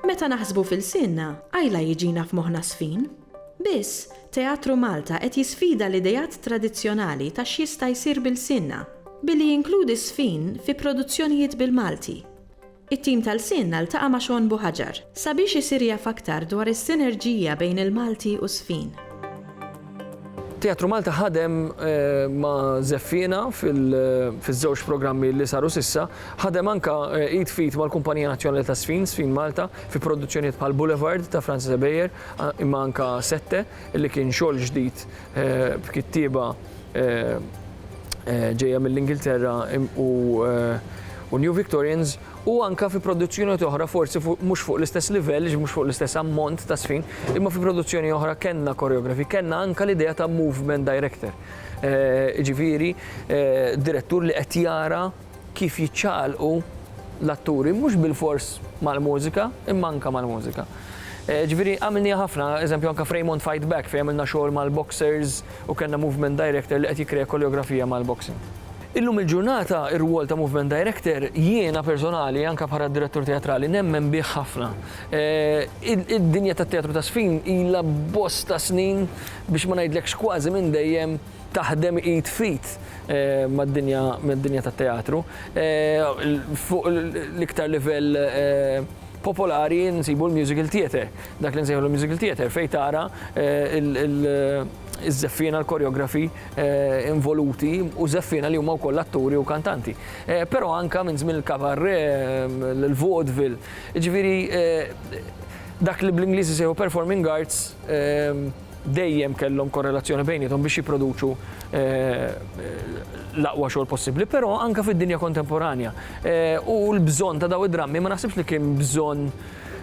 Meta naħsbu f'ilsienna, qajla jiġina f'moħħna żfin. Biss, Teatru Malta qed jisfida l-ideat tradizzjonali ta' x'jista' jsir b'ilsienna, billi jinkludi żfin fi produzzjonijiet bil-Malti. It-tim ta' Lsienna ltaqa' ma' Shawn Buhaġar sabiex isir jaf aktar dwar is-sinerġija bejn il-Malti u Sfin. Teatru Malta ħadem ma' Żeffiena fiż-żewġ programmi li saru s'issa. Ħadem anke id f'id mal-Kumpanija Nazzjonali ta' Sfin, Sfin Malta, fi produzzjonijiet bħal Boulevard ta' Francis Ebejer, imma anke Sette. li kien xogħol ġdid b'kittieba ġejja mill-Ingilterra u New Victorians u anke fi produzzjonijiet oħra forsi mhux fuq l-istess livell, mhux fuq l-istess ammont ta' żfin, imma fi produzzjoni oħra kellna koreografi, kellna anke l-idea ta' movement director, jiġifieri direttur li qed jara kif jiċċaqalqu l-atturi mhux bilfors mal-mużika imma anke mal-mużika. Ġifieri għamilniha ħafna, eżempju anke f'Raymond Fight Back fejn għamilna xogħol mal-boxers u kellna movement director li qed jikkrea koreografija mal-boxing. Illum il-ġurnata r-rwol ta' movement director jiena personali anke bħala direttur teatrali nemmen bih ħafna. Id-dinja tat-teatru ta' żfin ilha bosta snin biex ma ngħidlekx kważi minn dejjem, taħdem id f'id mad-dinja tat-teatru. Fuq l-iktar livell popolari nsibu l-musical theatre, dak li nsejħulu l-musical theatre fejn tara ż-żeffiena, l-koreografi involuti u żeffiena li huma wkoll atturi u kantanti. Però anke minn żmien il-kabarè, l-vaudeville, jiġifieri dak li bl-Ingliż isejħu performing arts, dejjem kellhom korrelazzjoni bejniethom biex jipproduċu l-aqwa xogħol possibbli, però anke fid-dinja kontemporanja. U l-bżonn ta' daw id-drammi ma naħsibx li kien bżonn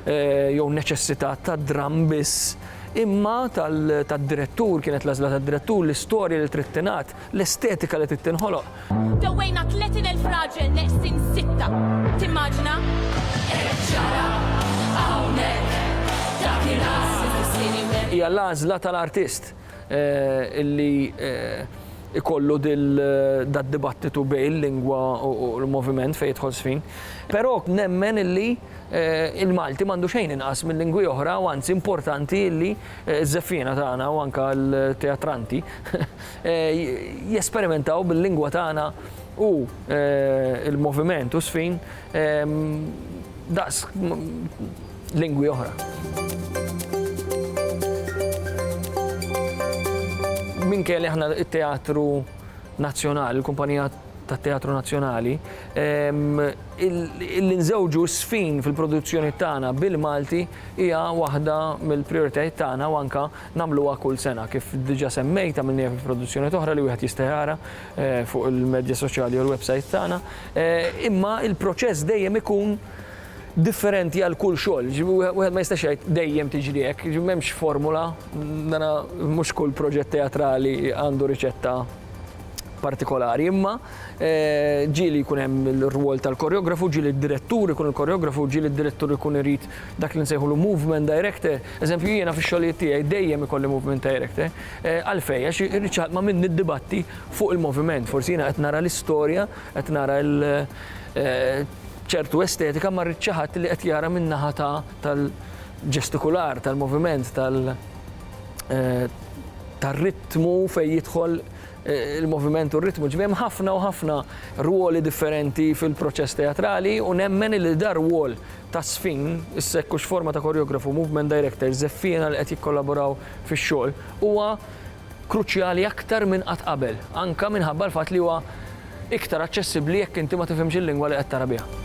jew neċessità ta' dramm biss, imma tad-direttur, kienet l-għażla tad-direttur, l-istorja li trid tingħad, L-estetika li trid tinħoloq. Dewwejna 30,000 raġel neqsin sitta. Timmaġina? Hekk ġara hawnhekk dak ir-ras il-ħsieni web. Hija l-għażla tal-artist li jkollu dad-dibattitu bejn il-lingwa u l-moviment fejn jidħol żfin. Però nemmen illi l-Malti m'għandu xejn inqas minn lingwi oħra u anzi importanti illi ż-żeffiena tagħna u anke l-teatranti jesperimentaw bil-lingwa tagħna u l-moviment u s-sfin daqs lingwi oħra. Minkejja li aħna t-Teatru Nazzjonali, il-kumpanija tat-Teatru Nazzjonali, li nżewġu s-sfin fil-produzzjonijiet tagħna bil-Malti hija waħda mill-prijoritajiet tagħna u anke Nagħmluha kull sena. Kif diġà semmejt, għamilniha fi produzzjonijiet oħra li wieħed jista' jara fuq il-medja soċjali jew l-websajt tagħna. Imma l-proċess dejjem ikun differenti għal kull xogħol. Wieħed ma jistax jgħid dejjem tiġri hekk, m'hemmx formula, mhux kull proġett teatrali għandu riċetta partikolari. Imma ġieli jkun hemm ir-rwol tal-koreografu, ġieli d-direttur ikun il-koreografu, ġieli d-direttur ikun irid dak li nsejħulu movement director, eżempju jiena fix-xogħlijiet tiegħi dejjem ikolli movement director, għalfejn? Għax irrid xi ħadd ma' min niddibatti fuq il-moviment, forsi jiena qed nara l-istorja, qed nara ċertu estetika ma rrid xi ħadd li qed jara min-naħa ta' tal-ġestikular, tal-moviment, tal tar-ritmu fejn jidħol il-moviment u r-ritmu, ġifieri hemm ħafna u ħafna rwoli differenti fil-proċess teatrali u nemmen li dar-rwol tagħżfin, is-sekk u x'forma ta' koreografu u movement director żeffiena li qed jikkollaboraw fix-xogħol huwa kruċjali aktar minn qatt qabel, anke minħabba l-fatt li huwa iktar aċċessibbli jekk inti ma tifhimx il-lingwa li qed tara biha.